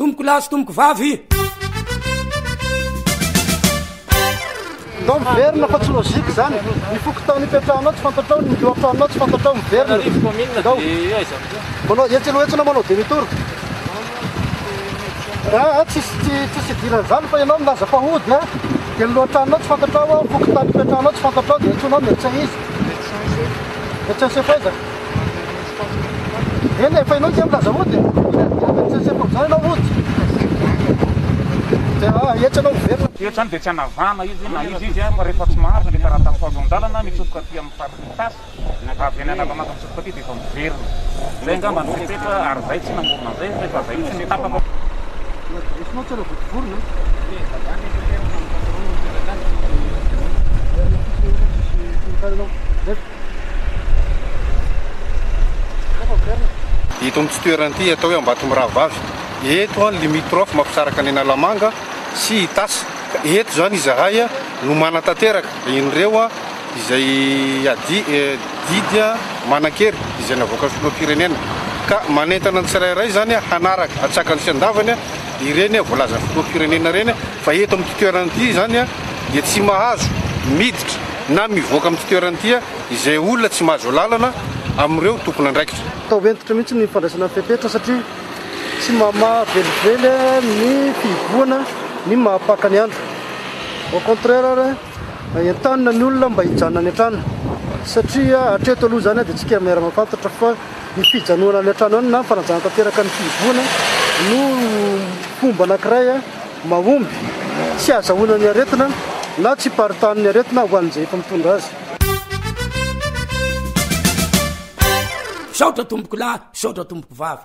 Tompoko lahy sy tompoko vavy. Ndao miverina fa tsy logique zany. Ny fokontany ipetrahanao tsy fantatrao, ny lohatranonao tsy fantatrao miverina. Arivo commune Ndao. dia eo aiza amin'izao? Manao hetsy aloha hetsy anao manao demi tour. Aa tsisy tsy tsisy idiran'ny zany fa ianao milaza fa hody a. Dia ny lohatranonao tsy fantatrao, ny fokontany ipetrahanao tsy fantatrao dia antsoinao médecin iza? Médecin chef. Médecin chef aiza? Eny efa ianao tsy amin'ny laza ody. Tsetse fa mizany ianao ody. Dia ah, eto ianao miverina. Eto izany dia tsy hanavahana izy na iza izy fa rehefa tsy mahazo ilay taratasy ho azo an-dalana mitsofoka aty amin'ny faritry ny tasy, avy any Analamanga mitsofoka aty dia efa miverina. Izay angamba no fepetra ary izay tsy namorona an'izay fa efa izay mihitsy no tapaka. Raisonao tsara vao mpivorona an! Eto amin'ity toerana ity atao hoe Ambatomirahavavy, eto ny limitrophe mampisaraka an'i Analamanga sy Itasy. Ka eto izany izahay no manatanteraka ireo izay ady didy manan-kery izay navoakan'ny filoham-pirenena. Ka manentana ny tsirairay izany hanaraka hatsaka ny tsy andavany ireny voalazan'ny filoham-pirenena ireny. Fa eto amin'ity toerana ity izany dia tsy mahazo miditra na mivoaka amin'ity toerana ity izay olona tsy mahazo alalana amin'ireo tompon'andraikitra. Atao hentitra mihitsy ny fandraisana ny fepetra satria tsy mamaha velively ny fihibohana ny maha paka ny andro. Au contraire ary entanina ny olona mba hijanona any an-trano satria hatreto aloha izany dia tsika miara mahafantatra fa ny fijanoana any an-trano any na ny fanajanana tanteraka ny fihibohana no fomba anankiray mahomby tsy hazahoana ny aretina na tsy hiparitahan'ny aretina ho an'izay efa mitondra azy. Misaotra tompokolahy, misaotra tompoko vavy.